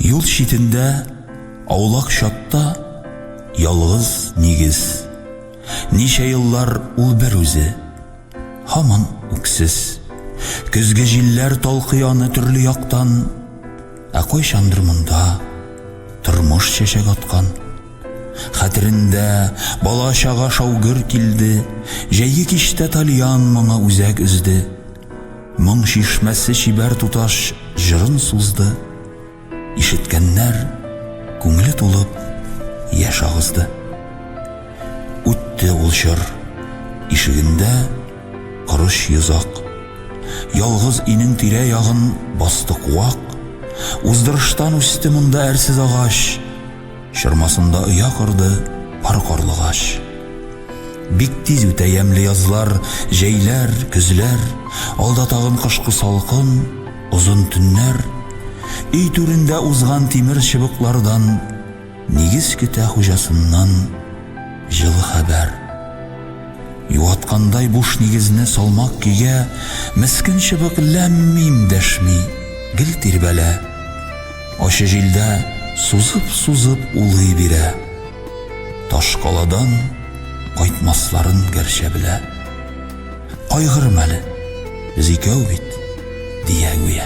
Юл читендә, аулак чатта ялгыз нигез. Ничә еллар ул бер үзе, һаман үксез. Көзге җилләр талкый аны төрле яктан. Ә кайчандыр монда тормыш чәчәк аткан. Хәтерендә бала-чага шау-гөр килде, җәйге кичтә тальян моңы үзәк өзде. Моң чишмәсе чибәр туташ җырын сузды. Ишеткәннәр күңеле тулып яшь агызды. Үтте ул чор. Ишегендә корыч йозак. Ялгыз өйнең тирә-ягын басты куак. Уздырыштан үсте монда әрсез агач. Чормасында оя корды пар карлыгач. Бик тиз үтә ямьле язлар, җәйләр, көзләр, алда тагын кышкы салкын, озын төннәр. Өй түрендә узган тимер чыбыклардан. Нигез көтә хуҗасыннан җылы хәбәр. Юаткандай буш нигезне салмак көйгә мескен чыбык ләм-мим дәшми, гел тирбәлә. Ачы җилдә сузып-сузып улый бирә. Ташкаладан кайтмасларын гәрчә белә. Кайгырма әле, без икәү бит, дия гүя.